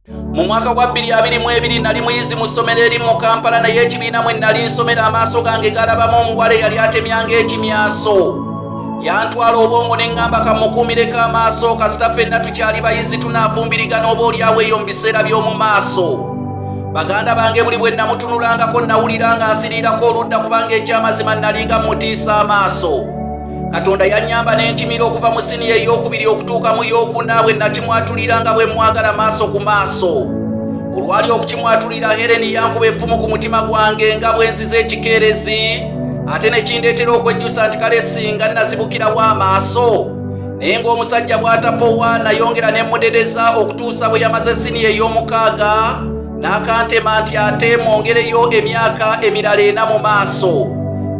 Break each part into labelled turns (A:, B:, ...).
A: mu mwaka gwa 2022 nali muyizi mu ssomero eri mu kampala naye ekibiina mwe nali nsomero amaaso gange galabamu omuwala eyali atemyanga ekimyaso yantwala obwongo ne ŋŋamba kamukuumireko amaaso kasita fenna tukyali bayizi tunaavumbirigana oba olyawo eyo mu biseera by'omu maaso baganda bange buli bwe namutunulangako nawulira nga nsiriirako oludda kubanga ekyamazima nalinga mutiisa amaaso katonda yanyamba n'enkimira okuva mu siniya ey'okubiri okutuuka mu y'okuna bwe nakimwatulira nga bwe mwagala maaso ku maaso olwali okukimwatulira hereni yankuba effumu ku mutima gwange nga bwe nziza ekikeerezi ate ne kindeetera okwejjusa nti kale singa nazibukirawo amaaso naye ng'omusajja bw'atapowa nayongera ne mudedeza okutuusa bwe yamaze siniya ey'omukaaga n'akantema nti ate mwongereyo emyaka emirala ena mu maaso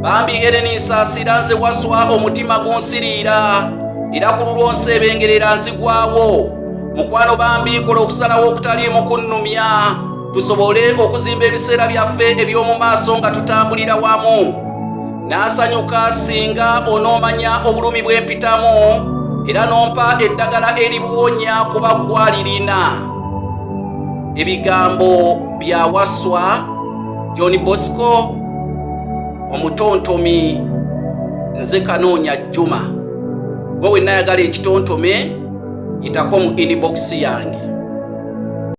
A: bambi ereni nsaasira nze waswa omutima gunsiriira era ku lulwo nseebengerera nzigwawo mukwano bambi kola okusalawo okutaliimu kunnumya tusobole okuzimba ebiseera byaffe eby'omu maaso nga tutambulira wamu n'asanyuka singa onoomanya obulumi bw'empitamu era n'ompa eddagala eribuwonya kuba ggwalirina ebigambo bya waswa john bosco omutontomi nze kanoonya juma gwe wenayagala ekitontome yitako mu inbox yange